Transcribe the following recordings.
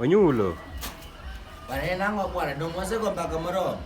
Onyulo. Bwana en ang'o bwana, dong' wasego mbaka moromo.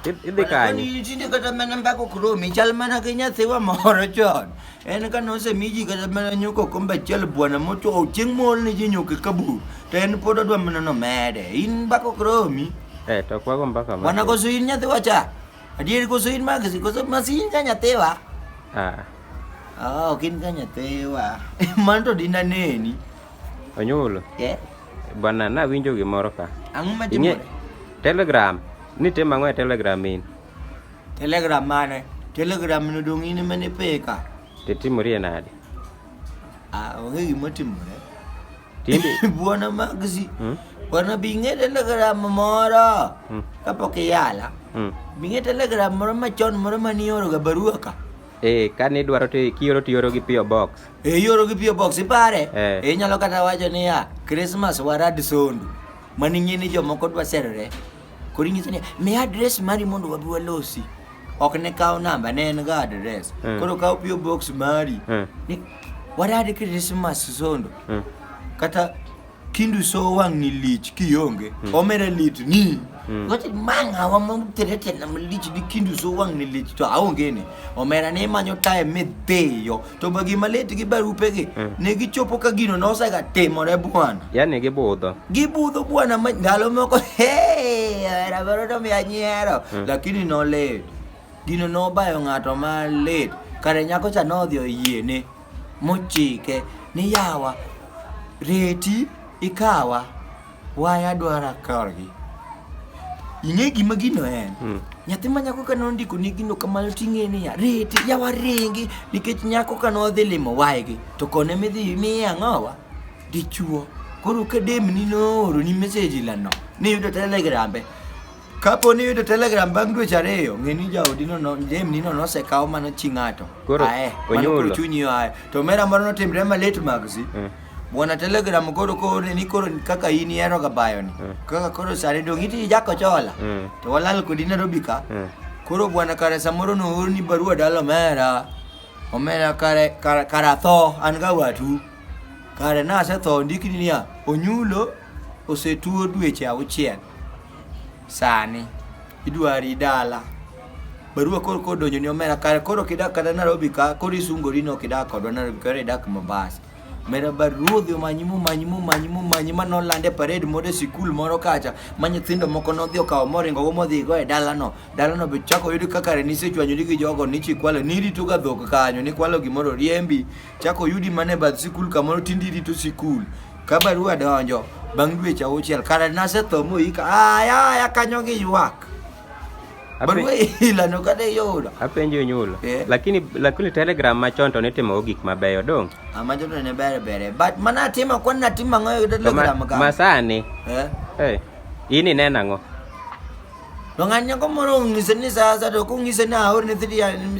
Idh- Idhi kanye? Tinde kata mana mbako kromi chal mana gi nyathiwa moro chon. En ka nosemi ji kata mana nyuko kombe achiel bwana mochwo chieng' mool ni ji nyuke kabur. To en pod odwa mana nomede. In mbako kromi. Eh, to kwago mbaka ma. Bwana koso in nyathiwa cha. Adier koso in magisi koso masin ka nyathiwa. Ah. Ah, ok in ka nyathiwa. Mano to dinaneni. Onyulo. Yeah. Bwana nawinjo gimoro ka. Ang'o ma timore? Telegram. Ni tim ang'o e Telegram in? Telegram mane? Telegram no dong in mane peka. Te timori e nade? Ah, onge gima timore. Tindi. Bwana Magzi. Hmm? Bwana bing'e Telegram moro. Hmm. Kapok iyala. Hmm. Bing'e Telegram moro machon moro manioro ga barua ka. Eh, kani idwaro to kioro to ioro gi PO Box. E ioro gi pio box ipare. Eh. E inyalo kata wacho niya, Christmas warad sondu. Mani ng'e ni jomoko dwa serore. Koro ing'iso niya, miya adres mari mondo wabi walosi. Ok ne kawo namba, ne en ga adres. Eh. Koro kawo pio box mari. Eh. Ni, warad Christmas sondu. Eh. Kata kindu so wang'ni lich kionge hmm. omera lit ni hmm. gote manga wa mom terete na lich di kindu so wang'ni lich to aonge ni omera ne manyo tae me deyo to bagi malet gi barupe gi hmm. ne gichopo ka gino no sa ga temore bwana yani gibudho gibudho bwana ndalo moko hey era baro to mi anyero lakini no let gino no bayo ng'ato malit kare nyako cha nodhi oyiene mochike ni yawa reti ikawa waya dwara korgi ing'e gima gino en hmm. nyathi ma nyako ka nondiko ni gino kamano ting'e niya reti yawa ringi nikech nyako ka nodhi limo waygi to kone midhi miye ang'owa dichuo koro ka demni nooro ni meseji lano niyudo telegrambe Kapo ni iyudo telegram bang' dweche ariyo, ng'e ni jaodi no, no jemni no nosekaw mano chi ng'ato. Koro, Ae, mano onyulo. koro chunyi yo ae. To mera moro notimre ma late magzi. Mm. Bwana telegram koro kore ni koro kaka in ihero ga bayo ni. Mm. Kaka koro sare dong' iti jako chola. Mm. To walal kodi Nairobi ka. Mm. Koro bwana kare samoro noorni barua dala omera. Omera kare kare kare atho an ga watu. Kare nasetho ndikni niya onyulo osetuo dweche auchiel. Sani idwari dala. Barua koro koro donjo ni omera kare koro kidak kata Nairobi ka koro isungori no kidak kodwa Nairobi koro idak Mombasa. Mera baruodhi omanyi momanyi momanyi momanyi ma noland e parade moro e sikul moro kacha ma nyithindo moko nodhi okawo moringo go modhi go e dalano. Dalano be chako yudi kaka kare nisechwanyori gi jogo nichikwalo nirito ga dhok kanyo nikwalo gimoro riembi chako yudi mana e bath sikul kamoro tindi irito sikul. Ka barua donjo bang' dweche auchiel, kare nasetho moyika, aya aya kanyo gi ywak. Ape- Barua ilano kata iyudo. Apenjo nyulo. Eh. Lakini lakini telegram machon to nitimo gik mabeyo dong. Ama jodo ne bere bere. But mana atimo kwan natimo ang'o e To ma, telegram ka? masani. Eh? Eh. In ineno ang'o? To ng'at nyako moro ong'ise ni sa asaya to ok ong'ise ni aorne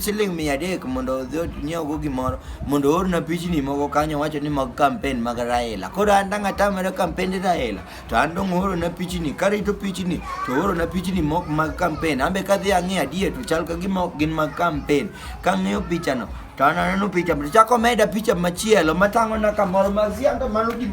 siling' mia adek mondo odhi onyiewogo gimoro mondo oorna pichni moko kanyo wacho ni mag kampen mag Raila. Koro an dang' atamre kampende Raila to an dong' oorona pichni karito pichni to oorona pichni mok mag kampen. An be kadhi ang'iyo adier to chal ka gima ok gin mag kampen. Kang'iyo pichano to an aneno picha to chako meda picha machielo matang'ona kamoro mag sianda mano gima